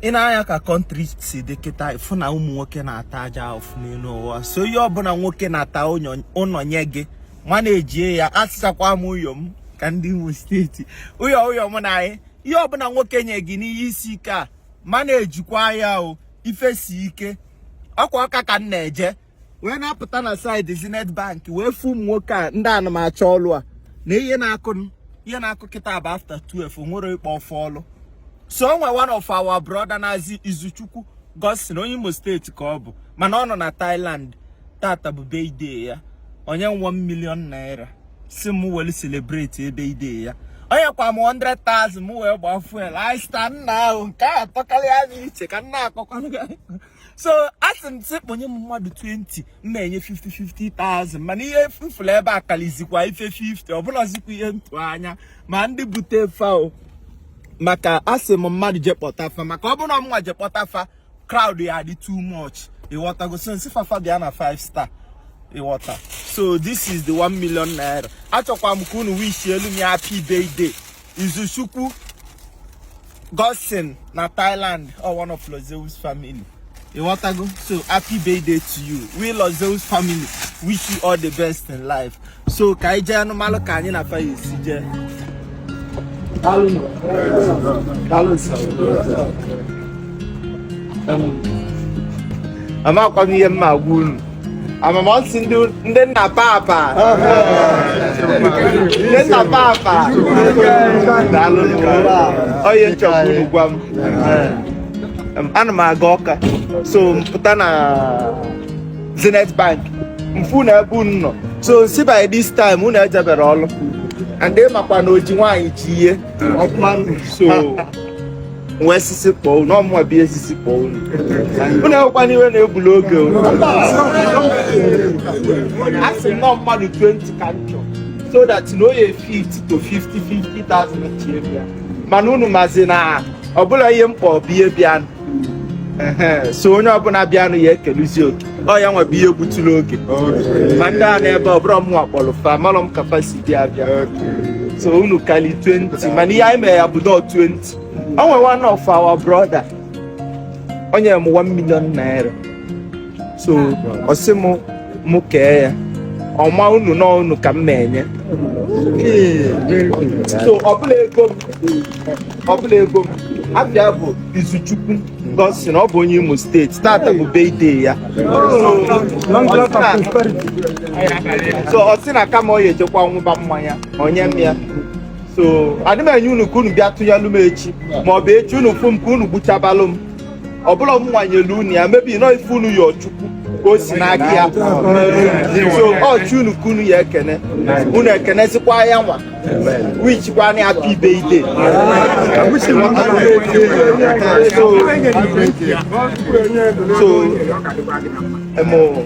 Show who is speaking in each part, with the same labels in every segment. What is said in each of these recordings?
Speaker 1: i nee anya ka country si dị kịta ị fụ na ụmụ nwoke na-ata ajọ afụfụ n'elu ụwa so ihe ọbụla nwoke nata ụnọ nye gị manejie ya asịchakwa m ụyọ m ka ndị Imo steeti ụyọ ụyọ m nwaanyị ihe ọbụla nwoke nye gị n'ihe isi ike a manejikwa ya o ife si ike ọ kwa Ọka ka m na-eje wee na-apụta na side Zenith Bank wee fụ ụmụ nwoke a ndị anụmacha ọlụ a na ihe na-akụ ihe na-akụ kịta bụ after 12 nwere ịkpọ fa ọlụ so o nwe one of our brother na-aza Izuchukwu Godson onye Imo steeti ka ọ bụ mana ọ nọ na Thailand tata bụ birthday ya o nye m 1 million naira sị m weli celebrate birthday ya o nyekwa m 100,000 m wee gbaa fuel I stand now nke a tọkarịa anyị iche ka nna akọkwanụ so a sị m sị kpọnye m mmadụ 20 m na-enye 50-50,000 mana ihe m fụlụ ebe a kalizikwa ife 50 ọ bụlazikwa ihe m tụ anya ma ndị bute fa o maka asị m mmadụ je kpọta fa maka ọ bụrụ na mụnwa je kpọta fa crowd ya adị too much ịghọtago so m sị fafa bịa na 5 star ịghọta so this is the 1 million naira achọkwa m ka unu wishielu m ya happy birthday Izuchukwu Godson na Thailand o, one of Lozeus family. Ịghọtago? So happy birthday to you. We Lozeus family wish you all the best in life. So ka anyị jeenụ malụ ka anyị na fa ya esi jee. Amakwa m ihe m ma-agwa unu. amama m sị ndị ndị nna papa ndị nna papa daalụ onye nchọkwu unu gwa m Em, ana m aga Ọka so m pụta na zenith bank m fụ na ebe unu nọ so m sị by this time unu ejebere ọlụ and ị makwa na o ji nwaanyị ji ihe so m wee sị sị kpọọ unu ọ mụwa bụ ihe sị sị kpọọ unu unu enwekwana iwe na-egbuli oge unu a sị m na ọ mmadụ 20 ka m chọrọ so that na oye 50 to 50 50,000 chie bịa mana unu mazi na ọ bụrọ ihe m kpọọ bụ ihe bịanụ Ehe, so onye ọbụla bịanụ ya ekeluzi oke ọ ya nwa bụ ihe gbutụrụ oge ma ndị a n'ebe ọ bụrọ mụnwa kpọrọ fa amarọ m ka fa si bịa bịa so unu kali 20 mana ihe anyị mere ya bụ dọ 20 o nwere one of our brother o nyere m 1 million naira so ọ sị m mụ kee ya ọma unu na unu ka m na-enye so ọ bụrọ ego m afa ya bụ Izuchukwu Godson ọ bụ onye imo steeti tata bụ birthday ya so ọ sị na kama ọ ya ejekwa ṅụba mmanya o nye m ya so adị m enye unu ka unu bịa tụnyelụ m echi ma ọ bụ echi unu fụ m ka unu gbuchabalụ m ọ bụrọ mụwa nyelu unu ya maybe na ọ ife unu yọ Chukwu ka o si n'aka ya so ọ Chi unu ka unu ya ekene unu ekenezikwa ya nwa wishikwanụ ya happy birthday so so emo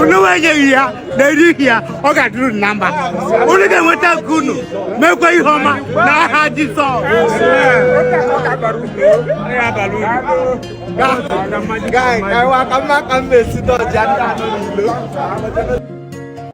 Speaker 2: unu enye ihe a na-eri ihe a ọ ga-adịrị unu na mma unu ga-enweta nke unu mekwa ihe ọma n'aha Jizọs Guy, I want to come
Speaker 1: back and visit the Janda.